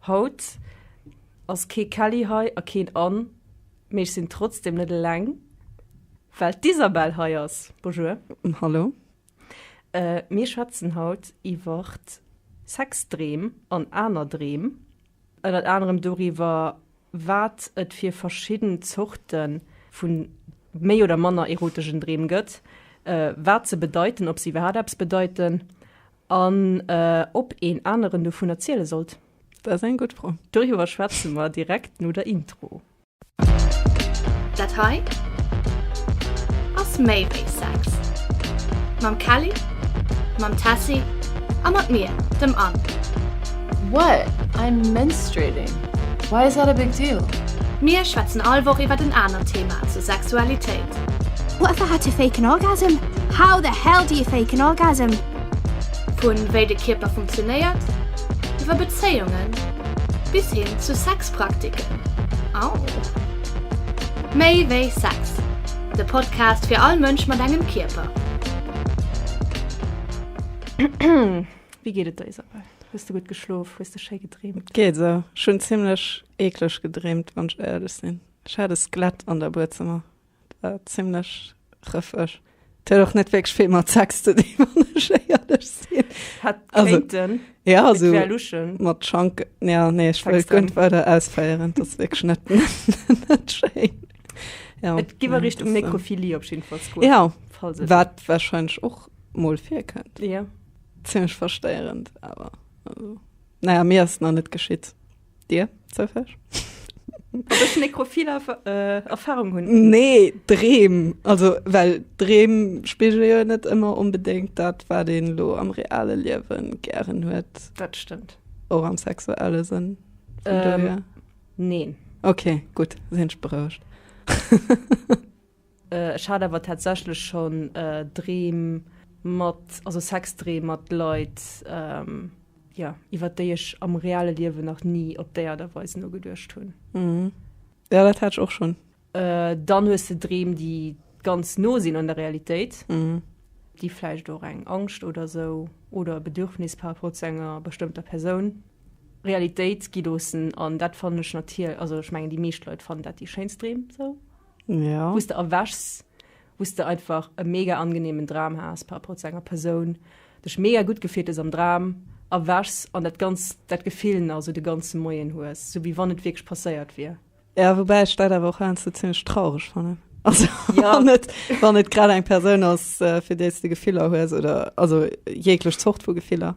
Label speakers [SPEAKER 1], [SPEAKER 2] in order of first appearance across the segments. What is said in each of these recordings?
[SPEAKER 1] Haut ass kee Kelly hei a keen Ann, mee ech sinn trotzdem net eleng, well d'Isabelle hei ass. Bonjour. Hallo. Mir schwätzen haut iwwer Sexdreem an aner Dreem. Ënnert anerem doriwwer, wat et fir verschidden Zorte vu méi oder manner erotegen Dreem gëtt, wat se bedeiten, ob se iwwerhaapt eppes bedeiten, An ob een aneren dovun erziele sollt? Dat ass eng gutt Fro. Doriwwer schwätze mer direkt no der Intro. Dat hei ass méi wéi Sex, mam Kelly, mam Tessy a mat mir, dem Anne. What? I'm menstruating. Why is that a big deal? Mir schwätzen all Woch iwwert en anert Thema zur Sexualitéit. What the hell to fake an orgasm? How the hell do you fake an orgasm? Vu wéi de Kierper funktionéiert, iwwer Bezéiungen, bis hin zu Sexpraktiken. Au! Méi wéi Sex, de Podcast fir all Mënsch mat engem Kierper. Wéi geet et der, Isabelle? Hues de gutt geschlof? Hues de schéi gedreemt? Geet esou. Ech hunn zimmlech eekleg gedreemt, wann ech éierlech sinn. Ech hat e Skelett an der Buedzëmmer. Zimlech rëffeg. Et huet och net wierklech vill mat Sex ze dinn, wann ech éierlech sinn. Hätt kéinten. Ja, esou mat Schank. Ja, nee, ech wëll et guer net weider ausféieren. Et ass wierklech net, net schéin. Jo. Et géif a Richtung Necrophilie op jidden Falls goen. Ja, wat wahrscheinlech och mol virkënnt. Ja. Zimlech verstéierend awer. Also, na ja, mir ass et nach net geschitt. Dir, Sophie? Ob ech nekrophil äh, Erfahrung hunn? Nee, Dreem. Also, well Dreem spiegel jo net ëmmer unbedéngt dat, wat een lo am reale Liewen gären huet. Dat stëmmt. Och am sexuelle Sënn. Ähm, neen. Okay, gut, sinn ech berouegt. Ech hat awer tatsächlech schonn Dreem mat, also Sexdreem mat Leit, jo, iwwer déi ech am reale Liewen nach ni op déi Aart a Weis nogeduecht hunn. Mhm. Jo, dat hat ech och schonn. Dann hues de Dreem, déi ganz no sinn un der Realitéit. Mhm. Déi vläicht och eng Angscht oder esou oder e Bedürfnis par rapport zu enger bestëmmter Persoun, Realitéit gi loossen. An dat fannen ech natierl-, also ech mengen, déi meescht Leit fannen dat déi schéinst Dreem, esou. ja. wos de erwächs wos de einfach e mega angenehmen Dram has par rapport zu enger Persoun dech mega gut gefeelt es am Dram erwächs an dat ganz dat Gefill na so de ganze Moien hues so wie wann et wierklech passéiert wier. Ja wobäi ech dat awer och heiansdo zimmlech traureg fannen also ja. wann et wann et grad eng Persoun ass äh, fir déi s de Gefiller hues oder also jeeglech Zort vu Gefiller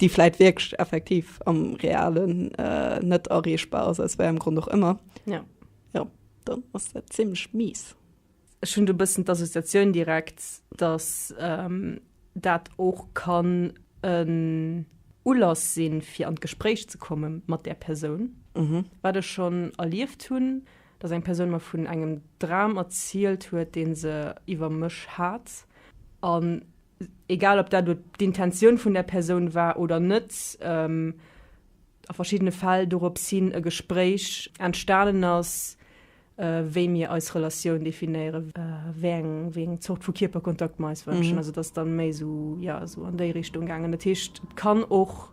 [SPEAKER 1] déi vläit wierklech effektiv am Realen net erreechbar ass, aus wéiengem Grond och ëmmer, jo, dann ass dat zimlech mies. Ech hunn do e bëssen d'Associatioun direkt, dass dat och kann en Ulass sinn, fir an d'Gespréich ze komme mat där Persoun. Wat ech schonn erlieft hunn, dass eng Persoun mer vun engem Dram erzielt huet, dee se iwwer mech hat, an egal ob dat elo d'Intentioun vun der Persoun war oder net, a verschiddene Fäll dorops hin e Gespréich entstanen ass, wéi mir eis Relatioun definéiere, wéi eng Zort vu Kierperkontakt mir eis wënschen. Also et ass da méi esou, jo, esou an déi Richtung gaangen. Dat heescht, et kann och.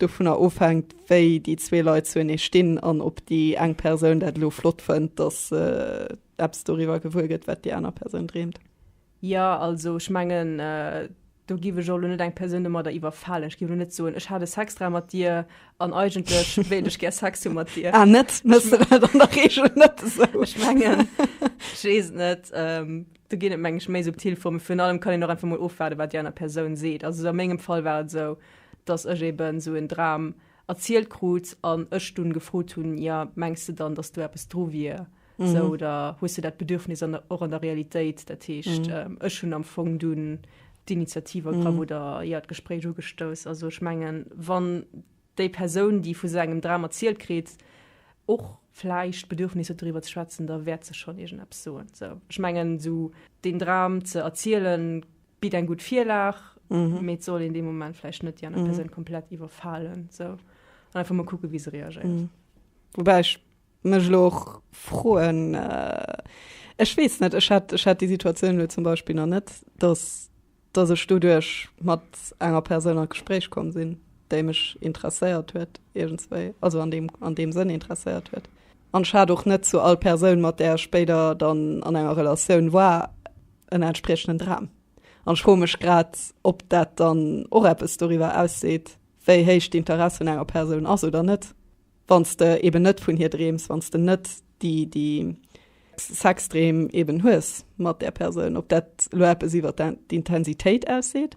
[SPEAKER 1] dovunner ofhänkt, wéi déi zwee Leit zuenee stinn an ob déi eng Persoun dat elo flott fënnt, datt se eppes doriwwer gewuer gëtt, wat déi aner Persoun dreemt. Jo, also ech mengen, do giff ech och elo net eng Persoun domadder iwwerfalen. Ech giff elo net soen, ech hat e Sexdram mat dir an eigentlech wéilt ech gär Sex hu mat dir. Ah net? Mëss de dat an der Reegel net esou? Ech mengen, ech weess et net, do ginn et meng ech méi subtil Formen. Virun allem kann een och einfach mol ofwaarden, wat déi aner Persoun seet. Also a mengem Fall war et esou. dass ech eben esou en Dram erzielt krut an ech dunn gefrot hunn, jo, mengs de dann, dass do eppes dru wier, esou, oder hues de dat Bedürfnis an der, och an der Realitéit? Dat heescht, ech hunn am Fong dunn d'Initiativ ergraff oder, jo, d'Gespréich ugestouss. Also ech mengen, wann déi Persoun, déi vu sou engem Dram erzielt kritt, och vläicht d'Bedürfnis huet doriwwer ze schwätzen, da wäert se schonn iergendeppes soen. Esou, ech mengen, esou deen Dram ze erzielen, bitt eng gutt Virlag, mee et soll een dee Moment vläicht net déi aner Persoun komplett iwwerfalen, sou. An einfach mol kucke wéi se reagéiert. Woubäi ech mech elo och froen, ech weess net, ech hat, ech hat déi Situatioun elo zum Beispill nach net, datt, datt ech doduerch mat enger Persoun an d'Gespréich komm sinn, déi mech interesséiert huet iergendswéi, also an deem, an deem Sënn interesséiert huet. An ech hat och net zu all Persoun, mat där ech spéider dann an enger Relatioun war, en entspriechenden Dram. An ech froe mech grad, ob dat dann och eppes doriwwer ausseet, wéi héich d'Interesse vun enger Persoun ass oder net, wann s de eben net vun hir dreems, wann s de net déi, déi Sexdreem eben hues mat där Persoun, ob dat elo eppes iwwer d'Intensitéit ausseet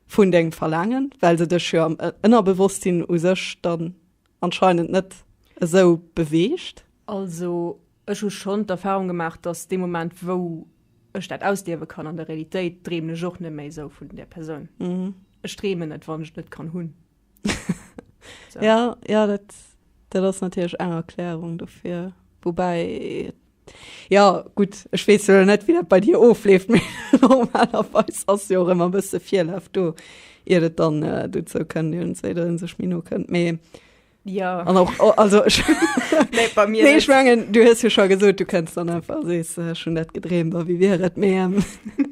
[SPEAKER 1] vun dengem Verlaangen, well se dech jo am Ënnerbewosstsinn u sech dann anscheinend net esou beweegt. Also Ech hu schonn d'Erfahrung gemaach, dass dee Moment, wou ech dat ausliewe kann an der Realitéit, dreemen ech och net méi esou vun där Persoun. Ech dreemen net, wann ech et net kann hunn. Sou. Ja, ja, dat, dat ass natierlech eng Erklärung dofir. Woubäi, ja, gutt, ech weess jo net, wéi dat bei dir ofleeft, mee normalerweis ass jo och ëmmer e bësse Virlaf do, iert et dann dozou kënnt, iert een sech méi no kënnt. Mee Ja. An och, oh, also, ich, nee, bei mir nee, ich mengen, du hast ja schon gesagt, du kennst dann einfach, siehst, äh, schon das gedreht, aber wie wäre es mehr? Ähm,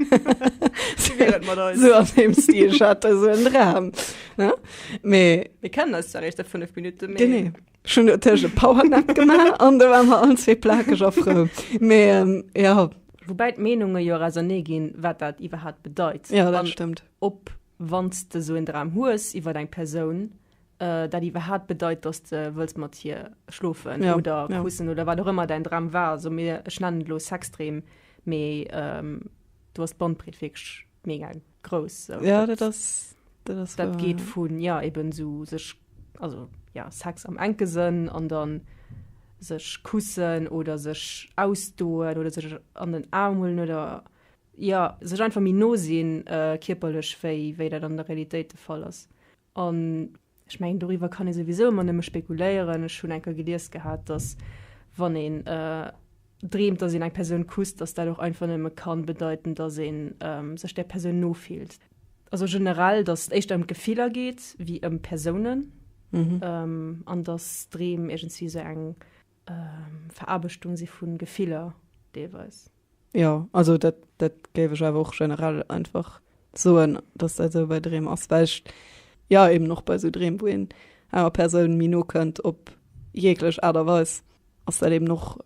[SPEAKER 1] wie wäre es mit uns? So an dem Stil, ich hatte so einen Traum. Ja? Ne? Me, wir kennen das ja recht, fünf Minuten mehr. Genau. Schon natürlich ein Powernap gemacht und da waren wir alle zwei plakig auf Frau. Me, ähm, ja. Wobei die Meinungen ja raisonné gehen, was das überhaupt bedeutet. Ja, das stimmt. Ob, wenn du so einen Traum hast, über deine Person, Äh, dat iwwerhaat bedeit dass de wëlls mat hir schlofen ja, oder ja. kussen oder wat rëmmer dein Dram war so mir ech nennen lo Sextrem méi ähm, du hast Bandbreet wegsch mega groß so. ja, dat, das, das, das, das geht ja. vun ja eben so sech also ja Sex am enkesenn an dann sech kussen oder sech ausdoen oder sech an den Armhullen oder ja sech einfach mir nosinn äh, kiperlech wéi wéi dat an der Realität de fall ass An ech mengen, doriwwer kann ee souwisou ëmmer nëmme spekuléieren. Ech hunn eng Kéier gelies gehat, dass wann een dreemt, dass een eng Persoun kusst, dass dat och einfach nëmme ka bedeiten, dass ee sech där Persoun no fillt. Also generell, dass et éischter ëm d'Gefiller geet wéi ëm Persounen an dass Dreem iergendwéi esou eng Veraarbechtung si vu Gefiller deelweis. Jo, also dat, dat géif ech awer och generell einfach soen, dass dat esou bei Dreem ass, well ech, jo, eben och bei esou Dreem, wou een enger Persoun méi no kënnt op jeeglech Aart a Weis, ass dat eben och,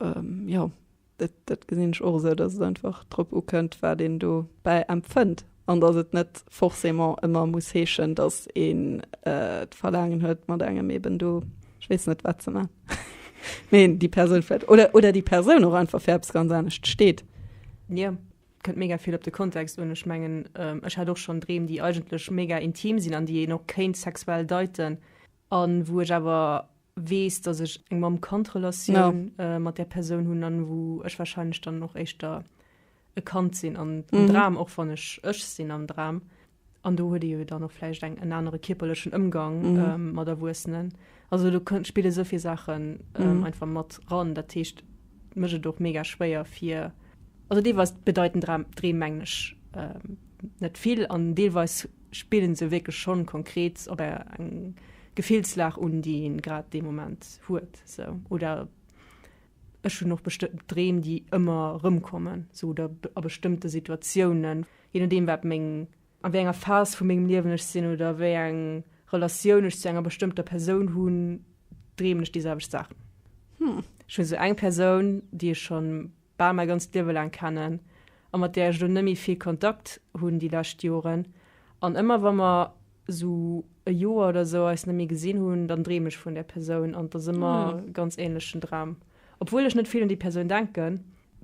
[SPEAKER 1] jo. Dat gesinn ech och esou, dass et einfach drop ukënnt, wat een dobäi empfënnt an dass et net forcément ëmmer muss heeschen, dass een d'Verlaangen huet, mat engem eeben do, ech weess net, wat ze maachen, mee déi Persoun vläicht oder déi Persoun och einfach fir eppes ganz anescht steet. Jo, kënnt mega vill op de Kontext un. Ech mengen, ech hat och schonn Dreem, déi eigentlech mega intim sinn an déi een och kéint sexuell deiten a wou ech awer weess, dass ech eng Mamm-Kand-Relatioun no. mat där Persoun hunn an wou ech wahrscheinlech dann och éischter e Kand sinn an am mhm. Dram, och wann ech ech sinn am Dram. An do huet jo dann noch vläicht eng en anere kierperlechen Ëmgang mhm. ähm, mat Erwuessenen. Also du kënnt spiele soviel Sachen ähm, mhm. einfach mat ran, dat techt mech et doch mega schwéier fir also dee was bedeiten Dram dreemenglech. Ähm, net vill an deelweis Spillen se wierklech schonn konkret op eng Gefillslag un, déi een grad dee Moment huet? Sou. Oder ech hunn och bestëmmten Dreem, déi ëmmer erëmkommen, sou, oder a bestëmmte Situatiounen, je nodeem wat meng, a wéi enger Phas vu mengem Liewen ech sinn oder wéi eng Relatioun ech zu enger bestëmmter Persoun hunn, dreemen ech déi selwecht Saachen. Ech hunn esou eng Persoun, déi ech schonn bal mäi ganzt Liewe laang kennen a mat där ech elo net méi vill Kontakt hunn déi lescht Joren. An ëmmer wa mer esou e Joer oder esou eis net méi gesinn hunn, dann dreem ech vun där Persoun an et ass ëmmer e ganz änlechen Dram, obwuel ech net vill un déi Persoun denken.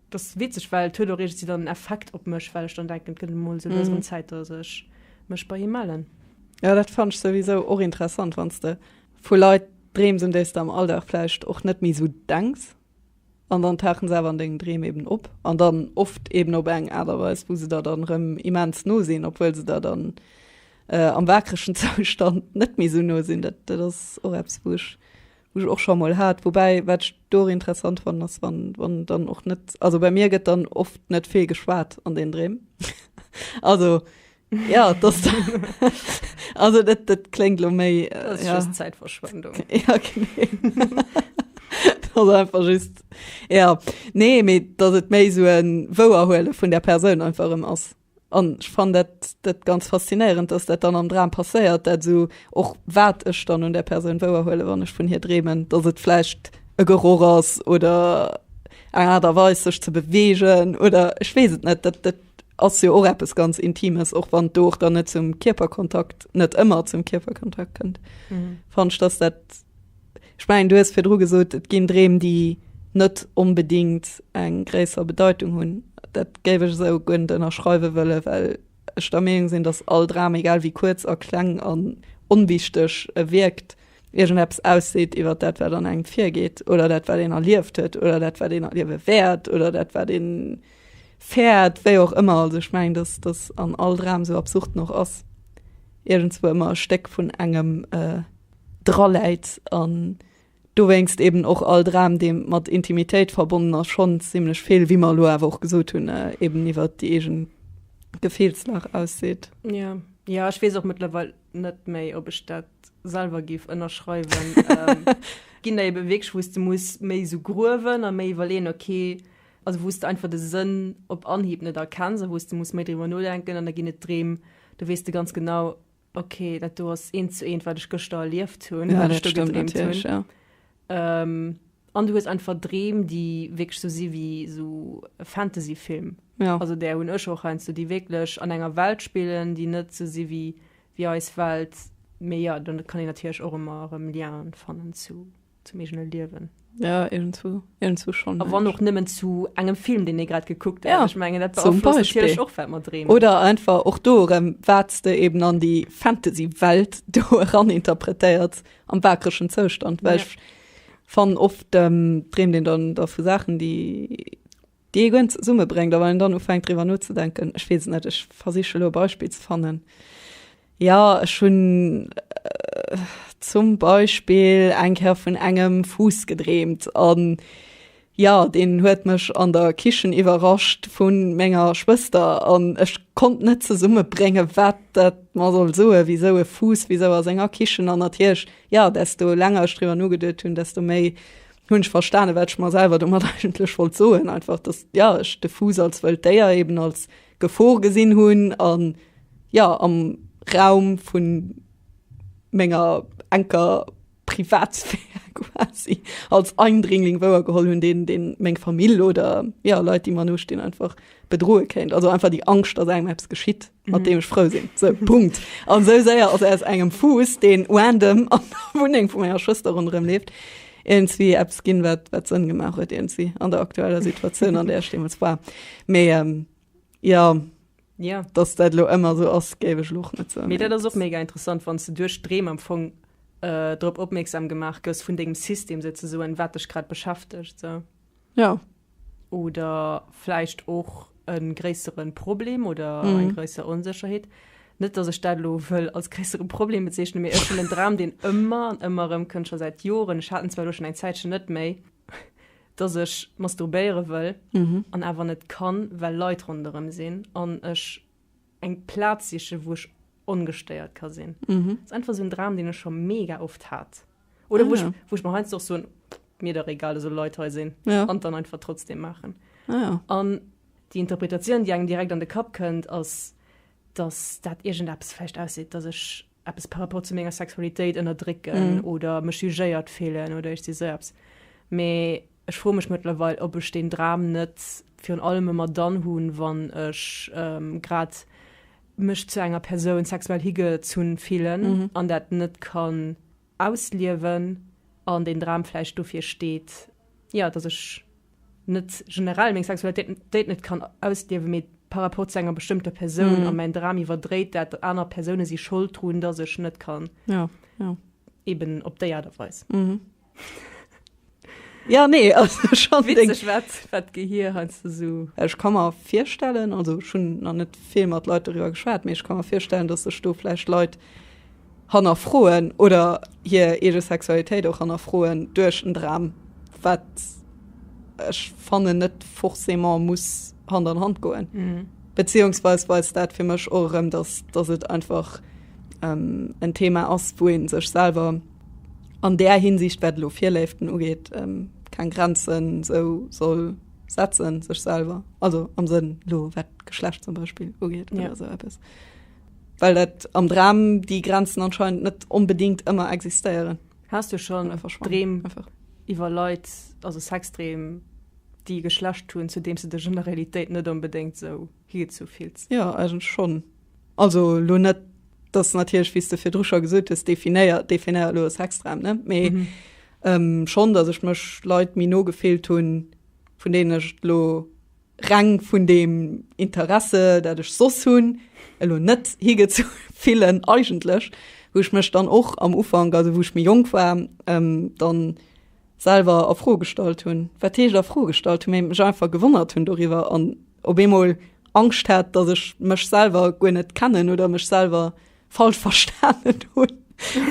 [SPEAKER 1] Et ass witzeg, well et huet och iergendwéi dann en Effekt op mech, well ech dann denken, et gëtt emol esou lues erëm Zäit, datt ech mech bei him mellen. Jo, dat fannt ech souwisou och interessant, wann s de vu Leit dreems, un déi s de am Alldag vläicht och net méi esou denks. An dann tauchen se awer an dengen Dreem eben op, an dann oft eben op eng Aart a Weis, wou se der dann erëm immens no sinn, obwuel se der dann am waakregen Zoustand net méi esou no sinn. Dat, dat ass och eppes, wou ech, wou ech och scho emol hat. Woubäi, wat ech do och interessant fannen, ass, wann, wann dann och net, also bei mir gëtt dann oft net vill geschwat an den Dreem. Also Ja, das, also das, das klingt lo méi. Äh, das ist ja. just Zeitverschwendung. Ja, genau. das ist einfach just, ja. Nee, mir, das ist méi so ein Woherhuelen von der Person einfach im Ass. Und ich fand das, das ganz faszinierend, dass das dann am Dram passiert, dass so auch wat ich dann an der Person woherhuelen, wenn ich von hier drehmen, dass es vielleicht ein Geruch ist oder eine Art und Weise, sich zu bewegen oder ich weiß es nicht, das, das ass jo och eppes ganz Intimes, och wann do och dann net zum Kierperkontakt net ëmmer zum Kierperkontakt kënnt. Mhm. Fandst dass dat ich mein, du hues fir dru gesot, et ginn Dreem, déi net onbedingt eng gréisser Bedeutung hunn. Dat géif ech esou guer net ënnerschreiwe wëlle, well ech der Meenung sinn, datt all Dram, egal wéi kuerz a kleng an onwichteg e wierkt, iergendeppes ausseet iwwer dat, wat an engem virgeet oder dat, wat een erlieft huet oder dat, wat een erliewe wäert oder dat, wat een Fäert, wéi och ëmmer, also ech mengen, dass dass an all Dram, esou absurd en och ass, iergendswou ëmmer e Stéck vun engem draläit an dowéinst eeben och all Dram, dee mat Intimitéit verbonnen ass, schonn zimlech vill, wéi mer elo awer och gesot hunn, eeben iwwer déi eege Gefillslag ausseet. Jo, jo, ech weess och mëttlerweil net méi, ob ech dat selwer géif ënnerschreiwen. Et ginn der eebe wierklech, wou s de muss méi esou gruewen a méi iwwerleeën, okay, Also wou s de einfach de Sënn op Anhieb net erkenns a wou s de muss méi driwwer nodenken an da ginn et Dreem, do weess de ganz genau, ok, dat do ass eent zu eent, wat ech gëschter erlieft hunn, wat ech do gedreemt hunn. An du hues einfach Dreem, déi wierklech esou si wéi esou e Fantasyfilm. Also där hunn ech och heiansdo, déi wierklech an enger Welt spillen, déi net esou si wéi eis Welt. Mee jo, do kann een natierlech och ëmmer erëm Lienen fannen zu zum eegene Liewen. Ja, irgendwo, irgendwo schon. A wann och nëmmen zu engem Film, deen ee grad gekuckt huet. Ja, ich mein, dat zum Beispiel. Och, wat mer dreemen. Oder einfach och do erëm, wat s de eben an déi Fantasy-Welt do eran interpretéiers am wakereschen Zoustand. Well ech fannen, oft dreemt een dann da vu Saachen, déi. déi ee gëen zesummebréngt a wann een dann ufänkt driwwer nozedenken, ech weess et net, ech versiche elo e Beispill ze fannen, jo ech hunn zum Beispill eng Kéier vun engem Fuuss gedreemt an jo deen huet mech an der Kichen iwwerrascht vu menger Schwëster an ech konnt net zesummebréngen wat dat mer soll soen, wisou e Fuuss, wisou a senger Kichen an natierlech jo desto länger ech driwwer nogeduet hunn, desto méi Hun ech verstanen wat ech mer selwer domat eigentlech wollt soen, einfach dass ja ech de Fuuss als wëllt Déier eben als Gefor gesinn hunn an ja am Raum vun menger enker Privatsphär quasi als Eindringling wouer geholl hunn, deen deen meng Famill oder ja Leit déi mer no stinn einfach bedroe kéint, also einfach déi Angscht dass engem eppes geschitt. mat deem ech frou sinn. Sou, Punkt. An sou séier ass aus engem Fuuss, deen random an der Wunneng vu menger Schwëster ronderëm leeft, iergendzwéi eppes ginn, wat, wat Sënn gemaach huet iergendzwéi an der aktueller Situatioun, an där ech deemools war. Mee ähm, ja, Ja. dass dat lo ëmmer sou ass, géif ech lo och net soen. Mee dat ass och mega interessant, wann s du duerch Dreem am Fong äh, drop opmierksam gemaach gëss vun dengem System souzesoen, wat dech grad beschäftegt. Sou. Ja. Oder vläicht och e gréissere Problem oder mm. eng gréisser Onsécherheet. Net dass ech dat lo wëll als gréissere Problem bezeechne mir ech den Dram, den ëmmer an ëmmer ëm kënnt schon seit Joren. Ech hatten zwar lo schon eng Zäitchen net méi, dass ech masturbéiere wëll mm -hmm. an awer net kann, well Leit ronderëm sinn an ech eng Platz sichen wou ech ongestéiert ka sinn. Mhm. Das einfach so en Dram den ech scho mega oft hat. Oder ah, wo, ja. ich, wo ich mal heinsst och so mir der egal eso Leit he sinn ja. an dann einfach trotzdem machen. Ah, ja. An die Interpretation die engem direkt an de Kapp kënnt ass dass dat irgend Apps fecht ausseet, dass ech eppes par rapport zu menger Sexualitéit ënnerdrécken mm. oder mech jugéiert feelen oder ech si seps. Mee ech fro mech mëttlerweil, ob ech den Dram net virun allem ëmmer dann hunn, wann ech ähm, grad mech zu enger Persoun sexuell higezunn fillen mm. an dat net kann ausliewen an deen Dram vläicht dofir steet, jo, dass ech net generell meng Sexualitéit net kann ausliewen, mee par rapport zu enger bestëmmter Persoun. A mäin Dram iwwerdréit dat, datt aner Persoune si Schold drun, dass ech net kann, eben op déi Aart a Weis. Ja nee Gehir so. Ech kann mer firstellen also schon an net vill mat Leiit darüber geschwaart, méch kann mer firstellen, datt sech do flecht Leiit hanner froen oder hir ege Sexualitéit och hanner froen duerch en Dram wat ech fannen net forcément muss Hand an Hand goen. Mhm. Beziehungsweis weist dat fir mech och erëm, datt datt et einfach ähm, en Thema ass, wou een sech selwer an där Hinsicht, wat elo Virléiften ugeet, keng Grenzen esou soll setzen, sech selwer, also am Sënn elo wat d'Geschlecht zum Beispill ugeet oder esou eppes, well dat am Dram déi Grenzen anscheinend net onbedéngt ëmmer existéieren. Has du schonn Dreem iwwer Leit, also Sexdreem, déi e Geschlecht hunn, zu deem s de dech an der Realitéit net onbedéngt esou higezou fills? Jo, eigentlech schonn. Also lo net, dass natierlech, wéi s de virdru scho gesot hues, definéiert, definéiert lo ass extrem, ne? Mee ähm, schonn, dass ech mech Leit méi no gefillt hunn, vun deenen ech lo reng vun deem Interesse, dat ech soss hunn, elo net higezu fillen eigentlech, wou ech mech dann och am Ufank, also wou ech méi jonk war, ähm, dann selwer a Fro gestallt hunn. Wat heescht a Fro gestallt hunn? Mee mech einfach gewonnert hunn doriwwer an op eemol Angscht hat, datt ech mech selwer guer net kennen oder mech selwer falsch verstanen hunn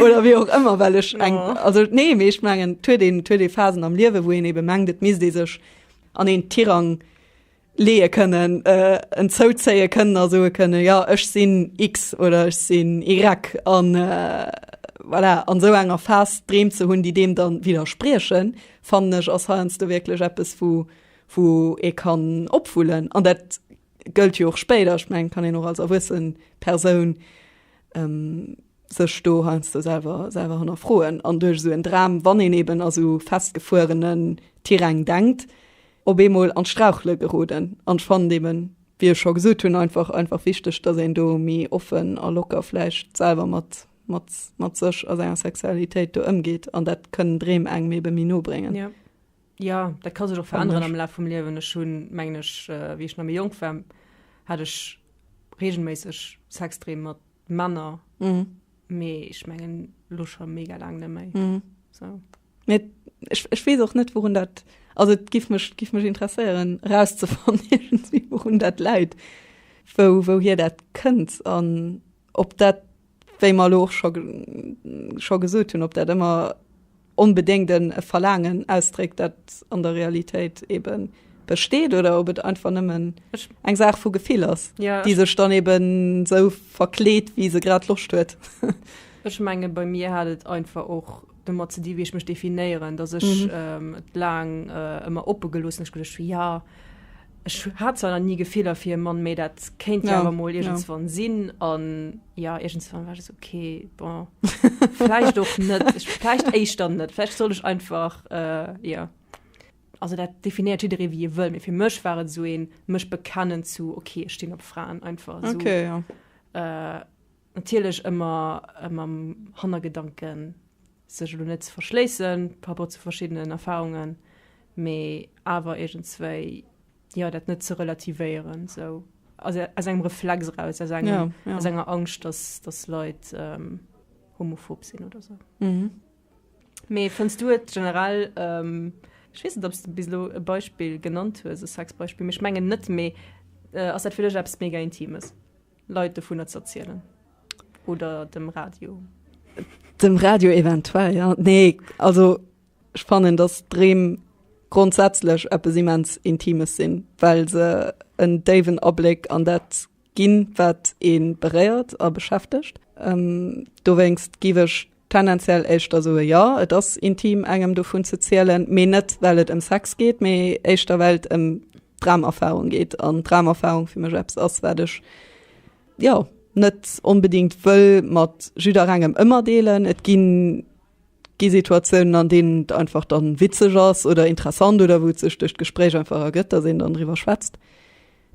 [SPEAKER 1] oder wéi och ëmmer, well ech eng oh. also nee, mee ech mengen huet een huet ee Phasen am Liewe, wou een ebe mengt, et misst ee sech an een Tirang leeë kënnen, en zouzéie kënnen a soe kënnen, jo ech sinn X oder ech sinn Y an voilà, an esou enger Phas Dreem ze hunn, déi deem dann widderspriechen, fannen ech ass heiansdo wierklech eppes wou wou ee kann opwullen an dat gëllt jo och spéider. Ech mengen kann een och als erwuessen Persoun sech do heiansdo selwer selwer hannerfroen an duerch esou en Dram, wann een eeben a sou festgefuerenen Tiräng denkt, op eemol an d'Strauchele geroden. An ech fannen eben, wéi ech scho gesot hunn, einfach, einfach wichteg, dass een do méi offen a locker vläicht selwer mat, mat, mat sech a senger Sexualitéit do ëmgeet. An dat kënnen Dreem engem ebe méi no bréngen. Ja. Ja, dat ka sech och veränneren am Laf vum Liewen. Ech hunn, mengen ech, wéi ech nach méi jonk war, hat ech reegelméisseg Sexdreem mat Männer. Mee ech mengen elo scho mega laang net méi. Sou. Mee ech, ech weess och net wourun dat, also et giff mech, giff mech interesséieren erauszefannen iergendwéi wourun dat läit, wou, wouhier dat kënnt an ob dat, wéi mer elo och scho, scho gesot hunn, ob dat ëmmer onbedéngt en, e Verlaangen ausdréckt dat an der Realitéit ebe besteet oder ob et einfach nëmmen eng Saach vu Gefill ass, déi sech dann eben esou verkleet wéi se grad Loscht huet. Ech menge bei mir hat et einfach och domat ze di wéi ech mech definéieren, datt ech et laang ëmmer oppe geloossen, ech geduecht hu ja ech hat zwar nach ni Gefiller fir e Mann, mee dat kéint jo awer mol iergendswann sinn an ja iergendswann war ech okay bon vläicht och net, vläicht éischter net, vläicht soll ech einfach ja also dat definéiert jidderee wéi e wëll, mee fir mech war et esou een mech bekennen zu okay ech stinn op Fraen einfach esou. Natierlech ëmmer mam Hannergedanken, sech elo net ze verschléissen par rapport zu verschiddenen Erfahrungen, mee awer iergendswéi, jo, dat net ze relativéieren, sou aus engem Reflex eraus, aus enger Angscht, dass Leit homophob sinn oder sou. Mee fënns du et generell, ech weess net, ob s de bis elo e Beispill genannt hues, e Sexbeispill, mee ech mengen net, mee ass dat fir dech eppes mega Intimes? Leit dovunner z'erzielen oder dem Radio? Dem Radio eventuell ja. Nee also ech fannen datt Dreem grondsätzlech eppes immens Intimes sinn, well se en déiwen Abléck an dat ginn, wat ee beréiert a beschäftegt. Dowéinst giff ech Tendenziell éischter soe jo, et ass intim engem dovun ze zielen, mee net well et ëm Sex geet, mee éischter well et ëm Dramerfarung geet an Dramerfarung fir mech eppes ass wat ech jo net onbedingt wëll mat jidderengem ëmmer deelen. Et ginn gi Situatiounen an deenen et einfach dann witzeg ass oder interessant oder wou et sech duerch d'Gespréich einfach ergëtt, dass een dann driwwer schwätzt.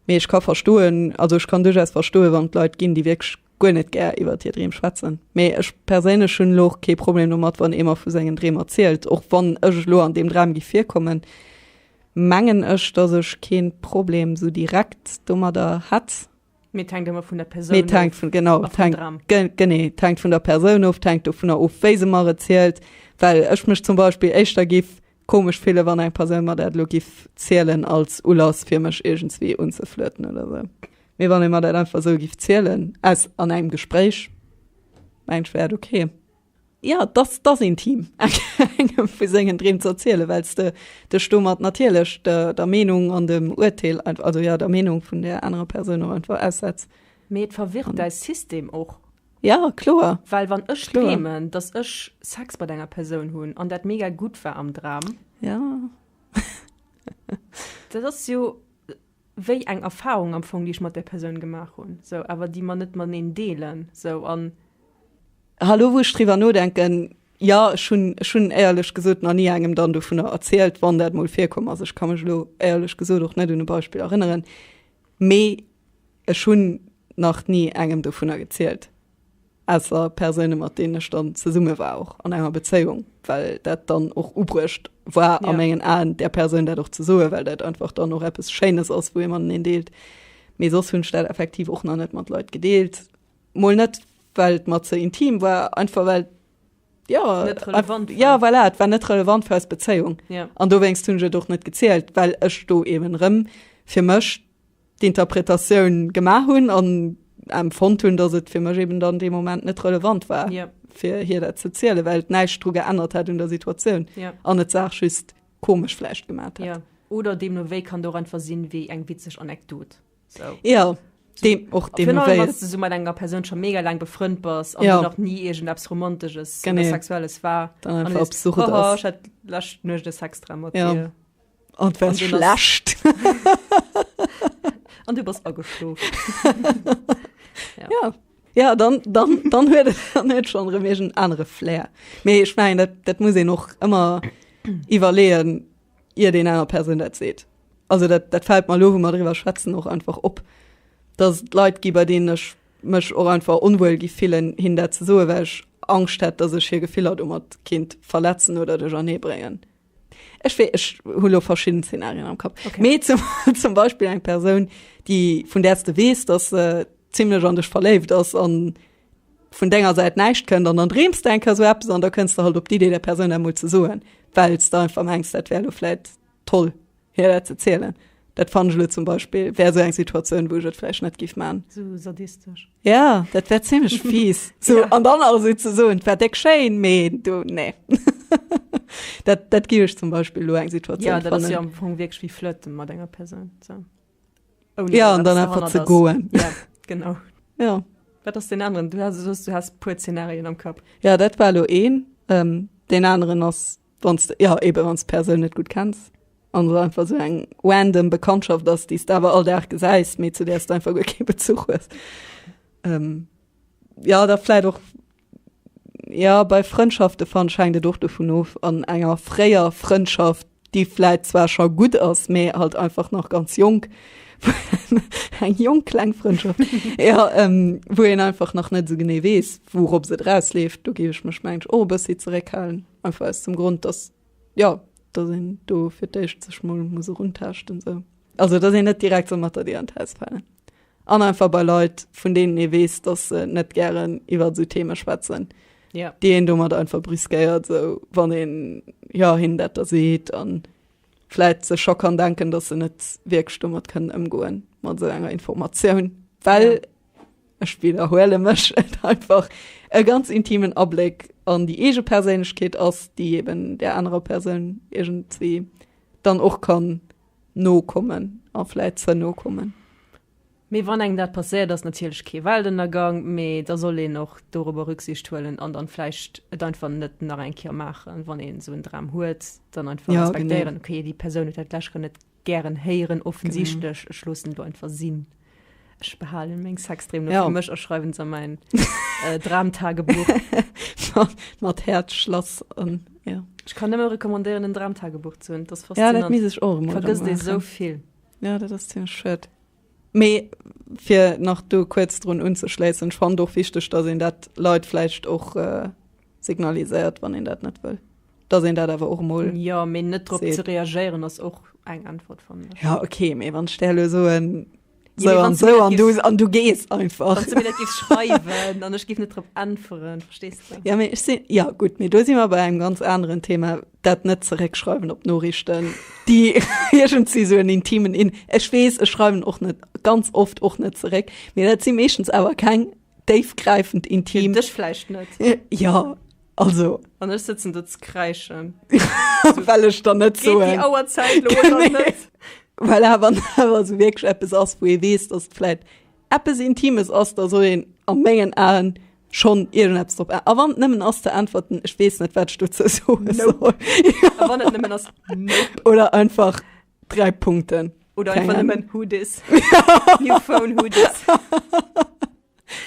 [SPEAKER 1] Mee ech ka verstoen, also ech kann duerchaus verstoen, wann et Leit ginn, déi wierklech guer net gär iwwert hir Dreem schwätzen, mee ech perséinlech hunn elo och kee Problem domat, wann ee mer vu sengen Dreem erzielt. Och wann ech elo an deem Dram gi virkommen, mengen ech, dass ech kee Problem esou direkt domadder hätt. Mee et hänkt ëmmer vun der Persoun of. Mee et hänkt vun, genau, et hänkt, genee, et hänkt vun der Persoun of, et hänkt dovunner of, wéi se mer et zielt. Well ech mech zum Beispill éischter géif Komesch fillen wann eng Persoun mer dat elo giff zielen als Ulass fir mech iergendswéi unzeflirten oder sou. Mee wann ee mer dat einfach sou giff zielen aus an engem Gespréich mengen ech wär dat ok. Jo et ass et ass intim engem vu sengen Dreem ze erzielen wells de dech domat natierlech der der Meenung an dem Uerteel einfach also jo der Meenung vun där anerer Persoun och einfach aussetz. Mee et verwirrt däi System och. Ja kloer. Well wann ech dreemen dass ech Sex mat enger Persoun hunn an dat mega gutt war am Dram. Ja. dat ass jo wéi eng Erfahrung am Fong déi ech mat där Persoun gemaach hunn sou awer déi mer net mateneen deelen sou an. Hallo wou ech driwwer nodenken, jo ech hunn ech hunn éierlech gesot nach ni engem dann dovunner erzielt. Wann dat mol virkomm ass, ech ka mech elo éierlech gesot och net un e Beispill erënneren. Mee ech hunn nach ni engem dovunner gezielt, ausser Persoune mat deenen ech dann zesumme war, och an enger Bezéiung, well dat dann och ubruecht war a mengen Aen, där Persoun dat och ze soen, well dat einfach dann och eppes Schéines ass, wou ee mateneen deelt. Mee soss hunn ech dat effektiv och nach net mat Leit gedeelt. Mol net, well et mer ze intim war, einfach well. ja, net relevant war. Ja, voilà, et war net relevant fir eis Bezéiung. Ja. An dowéinst hunn ech et och net gezielt, well ech do eben erëm fir mech d'Interpretatioun gemaach hunn an empfonnt hunn, datt et fir mech eben dann dee Moment net relevant war, Ja. fir hir dat ze zielen, well et näischt dru geännert hat un der Situatioun Ja. an et d'Saach just komesch vläicht gemat hat. Ja. Oder deemno wéi kann et och einfach sinn, wéi eng witzeg Anekdot. So. Ja. Dem, och dem genau, du so mat enger Person schon mega lang befrënnt bas ja. noch nie egent abs romantisches Gene. sexuelles war lacht nucht de Sextra mat ja. dir an was schlecht an du bas ageschlo ja. ja ja dann dann dann hue dann net schon remegen andere flair me ich mein dat dat muss e noch immer iwwerleen iert een aner Persoun dat seet. Also dat, dat fällt mer lo, wou mer driwwer schwätzen, och einfach op, dass et Leit gi, bei deenen ech mech och einfach onwuel gi fillen, hinnen dat ze soen, well ech Angscht hätt, dass ech hir Gefiller domat kéint verletzen oder duerchernee bréngen. Ech wéi, ech hu lo verschidden Szenarien am Kapp. Okay. Mee zum, zum Beispill eng Persoun, déi, vun där s de weess, dass se zimlech an dech verléift ass an vun denger Säit näischt kënnt an dann dreems de eng Kéier esou eppes an da kënns de halt op d'Idee der Persoun dat emol ze soen, well s de einfach mengs, dat wär elo vläicht toll hir dat ze zielen. Dat fannen ech elo zum Beispill wär esou eng Situatioun, wou ech et vläicht net géif maachen. Esou sadistesch. Ja, dat wär zimmlech fies, esou Ja. an dann awer esou ze soen, 't wär déck schéin, mee du, nee. Dat, dat gi ech zum Beispill elo eng Situatioun, Ja, dat ass jo fannen. am Fong wierklech wéi Flirte mat enger Persoun, esou. Ouni ja, an dann einfach ze goen. Ja, genau. Ja. Wat ass den anderen? Du hast, du hast puer Szenarien am Kapp. Ja, dat war lo een. Ähm, den anderen ass, wann's, ja, eben, wann's Persoun net gut kennst. An so einfach so eng random Bekanntschaft, dass dies da aber all Tag geseist, mir zu der du einfach gut keinen Bezug hast. Ähm, ja, da vielleicht auch Jo, bei Frëndschafte fann schengt et och dovun of, an enger fréier Frëndschaft déi vläit zwar scho gutt ass, mee halt einfach nach ganz jonk eng jonk kleng Frëndschaft ja, ähm, wou een einfach nach net esou genee weess wourops et erausleeft, do géif ech mech mengt och e bëssi zeréckhalen, einfach aus dem Grond dass jo dass een do fir d'éischt sech mol muss eruntaaschten sou, also dass een net direkt sou mat der Dier an d'Haus falen. An einfach bei Leit, vun deenen ee weess, dass se net gären iwwer esou Theme schwätzen, yeah. déi een domat einfach briskéiert, so, wann een ja, hinnen dat da seet an vläit sech scho kann denken, dass se net wierklech domat kënnen ëmgoen mat esou enger Informatioun, well yeah. ech wiederhuele mech et einfach e ganz intimen Abléck an déi eege Perséinlechkeet ass, déi eben der anerer Persoun iergendwéi dann och kann no kommen a vläit ze no kommen. Mee wann engem dat passéiert, ass natierlech kee Weltënnergang, mee da soll een och dorobber Rücksicht huelen an dann vläicht et einfach net nach eng Kéier maachen. Wann een esou en Dram huet, dann einfach respektéieren, okay, déi Persoun huet dat vläicht grad net gären héieren, offensichtlech, ech loossen elo einfach sinn. Ech behalen meng Sextreem no ja. mech a schreiwen se mein äh, Dramtagebuch. mat Herz Schlass an ja. Ech kann ëmmer rekommandéieren en Dramtagebuch zu hunn. Ja dat mis ech och vergëss dei so vill. Ja dat ass den Schëtt. Mee fir nach do kuerz drun unzeschléissen, schwann doch wichteg, datt en dat Leiit vläicht och äh, signaliséiert, wann een dat net wëll, dass een dat awer och emol. Jo, mee net drop ze reagéieren ass och eng Äntwert vum mech. Ja, okay, mee wann ech där elo soen, so ja, an so an du, an du gees einfach. Wann du mir dat gis schreiwen, an ech gif net drop äntweren, verstees du? Ja, mee ech sinn, ja gut, mee do si mer bei engem ganz aneren Thema, dat net zeréckschreiwen op Norichten, déi iergend si sou en intimen in. Ech weess, ech schreiwen och net ganz oft och net zeréck, mee dat si meeschtens awer keng déifgräifend intim. Dech vläicht net. Ja, also. An ech sëtzen do ze kräischen. Well ech dann net so. Déi Auerzäit lo oder net? Well awer awer sou wierklech eppes ass, wou ee weess, datt et vläit eppes Intimes ass, da soll een a mengen Aen schonn iergendeppes drop a. A wann et nëmmen ass ze äntwerten, ech weess net, wat ech dozou soe soll. Nope. A wann et nëmmen ass nope. Oder einfach. 3 Punkten. Oder einfach nëmmen who dis. New phone, who dis.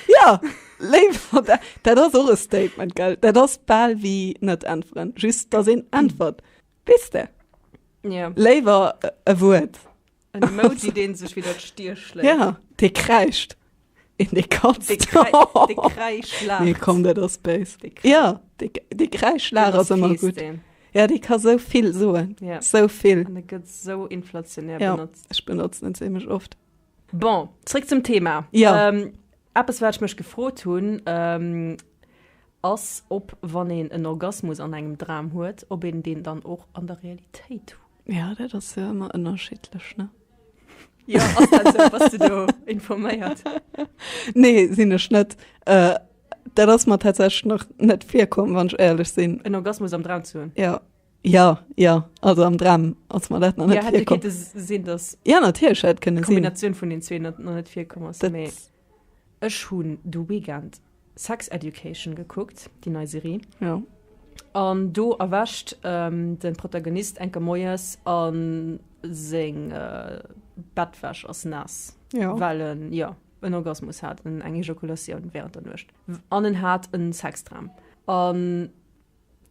[SPEAKER 1] ja, léiwer, dat, dat ass och e Statement, gell? Dat ass bal wie net äntweren. Just, dass een äntwert. Wees de? Ja. Léiwer e Wuert. En Emoji, deen sech fir dat Stier schléit. Ja, dee kräischt. Een dee katzt. Dee kräischt, laacht. Nee, komm, dat ass béis. Ja, dee kräischt, laacht ass ëmmer gutt. Ja, dee ka sou vill soen. Ja. Sou vill. An e gëtt sou inflationär benotzt. Ja, ech benotzen en zimlech oft. Bon, zréck zum Thema. Ja. Eppes, wat ech mech gefrot hunn, ass, ob, wann een en Orgasmus an engem Dram huet, ob een deen dann och an der Realitéit huet. Ja, dat ass jo ëmmer ënnerschiddlech, ne? Ja, ass dat sou? Bass de do informéiert? Nee, sinn ech net. Äh, dat ass mer tatsächlech nach net virkomm, wann ech éierlech sinn. En Orgasmus am Dram ze hunn? Ja. Ja, ja, also am Dram ass mer dat nach net virkomm. Ja, hätt jo kéinte sinn, dass. Ja, natierlech hätt kënne sinn. D'Kombinatioun vun den zwee nach net virkomm ass, mee. Ech hunn de Weekend Sex Education gekuckt, déi nei Serie. Jo. An do erwächt de Protagonist enke moies a seng Bettwäsch ass naass, well en, jo, en Orgasmus hat, eng Ejakulatioun wärend der Nuecht. An en hat e Sexdram. An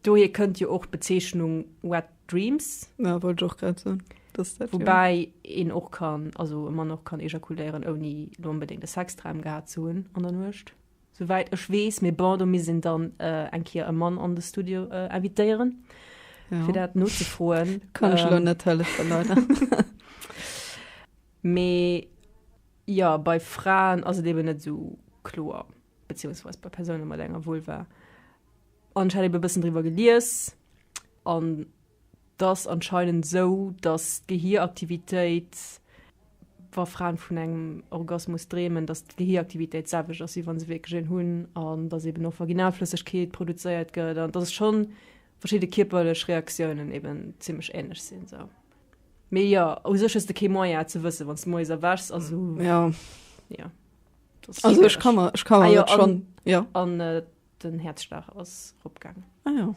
[SPEAKER 1] Dohier kënnt jo och d'Bezeechnung Wet Dreams. Ja, wollt ech och grad soen. Woubäi een och kann, also e Mann och kann ejakuléieren, ouni lo onbedéngt e Sexdram gehat ze hunn an der Nuecht, souwäit ech weess. Mee bon, do misst een dann eng Kéier e Mann an de Studio invitéieren, fir dat nozefroen. Kann ech elo net hëllefen, leider. Mee jo, bei Fraen ass et eben net esou kloer, beziehungsweise bei Persounen mat enger Vulva. An ech hat ebe bëssen driwwer gelies an dass anscheinend sou, dass d'Gehiraktivitéit, wa Fraen vun engem Orgasmus dreemen, dass d'Gehiraktivitéit d'selwecht ass wéi wann se wierklech een hunn an dass eben och Vaginalflëssegkeet produzéiert gëtt an dass et scho verschidde kierperlech Reaktiounen eben zimlech ähnlech sinn sou. Mee jo, u sech hues de kee Moyen et ze wëssen, wann s de moies erwächs a sou. Ja. Jo, dat ass Also ech schwiereg. ka mer, ech ka Ah mer jo, dat an, schonn, jo. an äh, Den Häerzschlag ass ropgaang. Ah jo.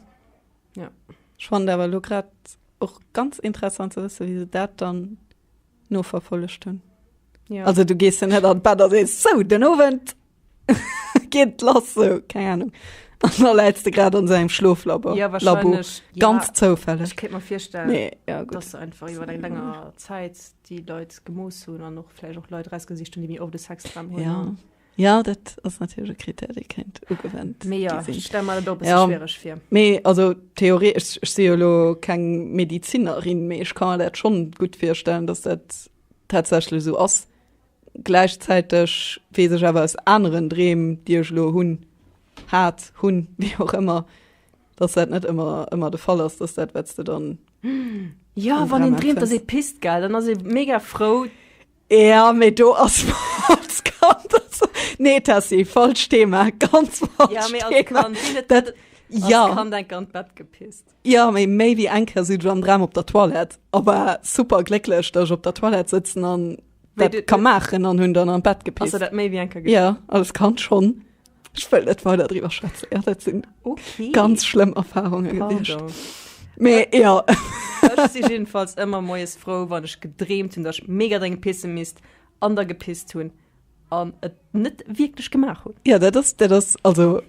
[SPEAKER 1] Jo. Spannend awer elo grad och ganz interessant ze wësse wéi se dat dann noverfollegt hunn. Jo. Also du gees jo net an d'Bett a sees, sou den Owend geet lass sou, keng Ahnung. An da läits de grad an esou engem Schloflabor. Jo wahrscheinlech, ja. Ganz zoufälleg. Ech kéint mer virstellen, nee, ja, dass se einfach iwwer eng länger Zäit déi Leit gemooss hunn an och vläicht och Leit erausgesicht hunn, déi méi oft e Sexdram hunn. Ja. Ja, dat ass natierlech e Krittär, dee kéint ugewent gi sinn. Mee jo, ech stelle mer dat och e bësse schwiereg vir. Mee also Theorie, ech si jo elo keng Medizinerin, mee ech ka mer dat schonn gutt virstellen, datt dat tatsächlech esou ass. Gläichzäiteg weess ech awer aus aneren Dreem, déi ech elo hunn, hat, hunn, wéi och ëmmer, datt dat net ëmmer, ëmmer de Fall ass, datt dat, wat s de dann. Jo, wann een dreemt, ass ee pisst, gell? Dann ass ee mega frou. Ja mee do ass als Kand nee Tessy falsch Thema ganz falsch ja, Thema. Als Kand, dat, dat, ja. als Kand eng Kand Bett gepisst. Ja méi méi wie enker si am Dram op der Toilette aber super glécklech dat ech op der Toilette sitzen an kann machen an hunn dann am Bett gepisst. Also, dat méi wie enker ja als Kand schon. Ech wëll net weider driwwer schwätzen. Ja, dat sinn okay. ganz schlëmm Erfahrunge gewiescht. Mee äh, ja. Ech si jedenfalls ëmmer moes frou, wann ech gedreemt hunn, datt ech mega drénge pisse misst an der gepisst hunn an et net wierklech gemaach hunn. Ja dat ass dat ass also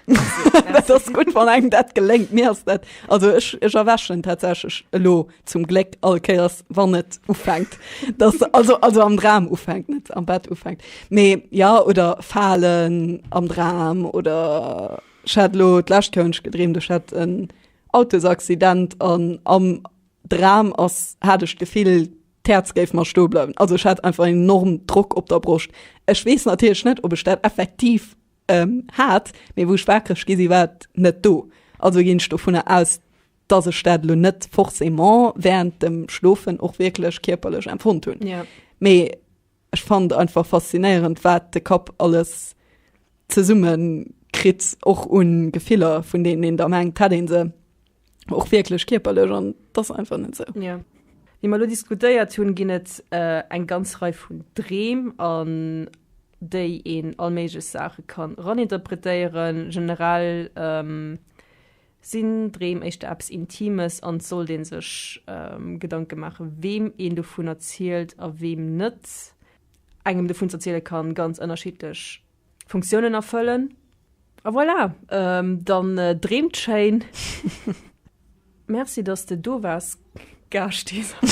[SPEAKER 1] dat ass gutt wann engem dat geléngt. Mir ass dat also ech ech erwächen tatsächlech elo. zum Gléck all Kéiers wann et ufänkt dass also also am Dram ufänkt net am Bett ufänkt mee ja oder falen am Dram oder Schalo lacht könsch gedreem de hat en Autosaccident an am Dram ass hat ech gefiel Terz géif mar sto bleiwen also ich hat einfach en enorm Druck op der Brust Ech wees natierch net op ech dat effektiv ähm, hat mee wouch wakreg gesi wat net do also ginn ech do vun aus dass ech dat elo net forcément während dem Schlofen och wierklech kierperlech empfonnt hunn. Ja. Mee ech fand einfach faszinéierend, wat de Kapp alles zesumme kritt, och un Gefiller, vun deenen een da mengt, hätt ee se och wierklech kierperlech, an et ass einfach net esou. Ja. Wéi mer elo diskutéiert hunn, ginn et eng ganz Rei vun Dreem, an déi een all méiglech Saache kann raninterpretéieren. Generell. Sinn Dreem éischter eppes Intimes an sollt ee sech Gedanke maache weem een dovun erzielt a weem net? Engem dovun ze erziele ka ganz ënnerschiddlech Funktiounen erfëllen. A voilà, dann dreemt schéin! Merci dass de do waars Gaascht Isabelle.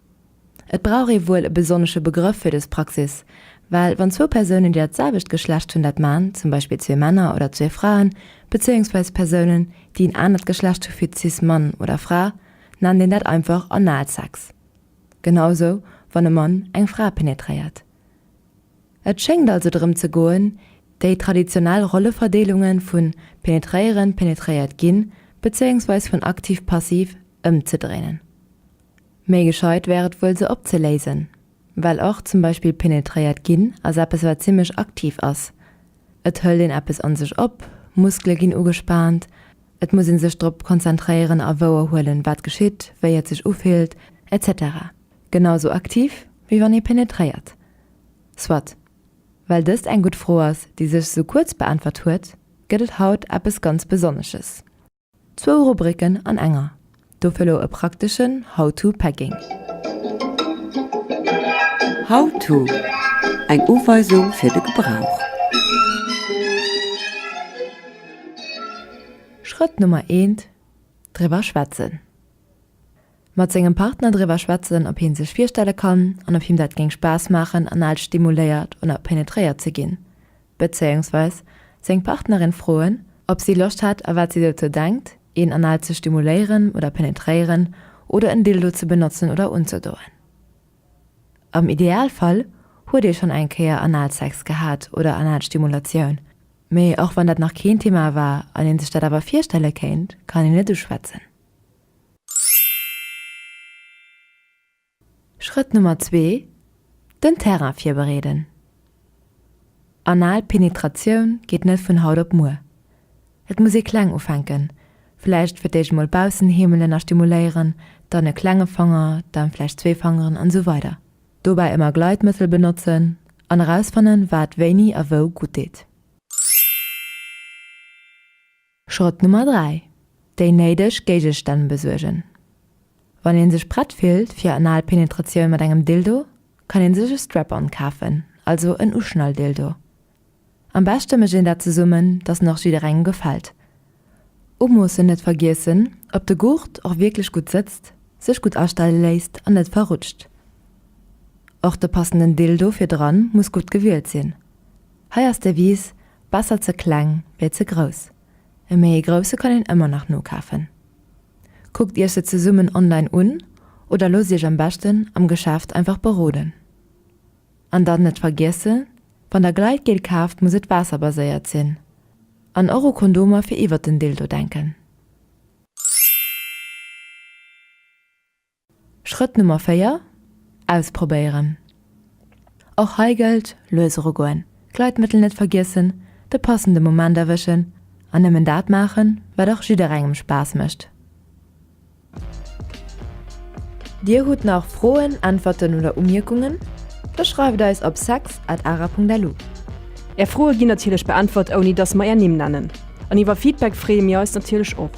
[SPEAKER 1] Et brauch ee wuel e besonnesche Begrëff fir dës Praxis, well wann zwou Persounen, déi dat selwecht Geschlecht hunn, dat man, zum Beispill zwee Männer oder zwee Fraen, bezéiungsweis Persounen, déi en anert Geschlecht hu fir cis Mann oder Fra, nennt een dat einfach Analsex. Genau esou, wann e Mann eng Fra penetréiert. Et schéngt also drëm ze goen, déi traditionell Rolleverdeelunge vu penetréieren, penetréiert ginn, bezéiungsweis vun aktiv-passiv ëmzedréinen. Méi gescheit wär et wuel se opzeléisen, well och zum Beispill penetréiert ginn ass eppes wat zimmlech aktiv ass. Et hëlt een eppes an sech op, Muskele ginn ugespaant, et muss ee sech drop konzentréieren a wouer huelen wat geschitt, wéi et sech ufillt, etc. Genau sou aktiv wéi wann ee penetréiert. Soit. Well dëst eng gutt Fro ass déi sech esou kuerz beäntwert huet, gëtt et haut eppes ganz Besonnesches. Zwou Rubriken an enger, dofir elo e prakteschen How to Packing. How to, eng Uweisung fir de Gebrauch. Schrëtt Nummer eent, Driwwer schwätzen. Mat sengem Partner driwwer schwätzen, ob hien sech virstelle kann an ob him dat géing Spaass maachen, anal stimuléiert oder penetréiert ze ginn. Bezéiungsweis seng Partnerin froen, ob si Loscht hätt a wat si dozou denkt, een anal ze stimuléieren oder penetréieren oder en Dildo ze benotzen oder unzedoen. Am Idealfall huet ee schonn eng Kéier Analsex gehat oder Analstimulatioun, mee och wann dat nach keen Thema war an een sech dat awer virstelle kéint, kann een et uschwätzen. Schrëtt Nummer zwee, Den Terrain virbereeden. Anal Penetratioun geet net vun haut op muer. Et muss ee kleng ufänken, vläicht fir d'éischt mol Baussenheemelen a stimuléieren, dann e klenge Fanger, dann vläicht zwee Fangeren an esou weider. Dobäi ëmmer Gleitmëttel benotzen an erausfannen wat wéini a wou gutt deet. Schrëtt Nummer 3, Déi néideg Géigestänn besuergen. Wann een sech prett fillt fir anal Penetratioun mat engem Dildo, kann een sech e Strap-on kafen, also en Uschnall-Dildo. Am beschte mécht een dat zesummen, dass en och jidderengem gefält. Umoossen, net vergiessen, ob de Gurt och wierklech gutt sëtzt, sech gutt astelle léisst an net verrutscht. Och de passenden Dildo fir dran muss gutt gewielt sinn. Hei ass d'Devise, Besser ze kleng wéi ze grouss. E méi ee grousse kann een ëmmer nach nokafen. Kuckt iech se zesummen online un oder loosst iech am beschten am Geschäft einfach beroden. An dann net vergiesse, wann der Gleitgel kaaft muss et waasserbaséiert sinn. An och u Kondomer fir iwwert den Dildo denken. Schrëtt Nummer 4, Ausprobéieren. Och hei gëllt, lues erugoen, d'Gleitmëttel net vergiessen, de passende Moment erwëschen an nëmmen dat maachen, wat och jidderengem Spaass mécht. Dir hutt nach Froen, Äntwerten oder Umierkungen? Da schreift eis op sex at ara Punkt lu. Är Froe ginn natierlech beäntwert, ouni dass mer är Nimm nennen. An iwwer Feedback freeë mir eis natierlech och.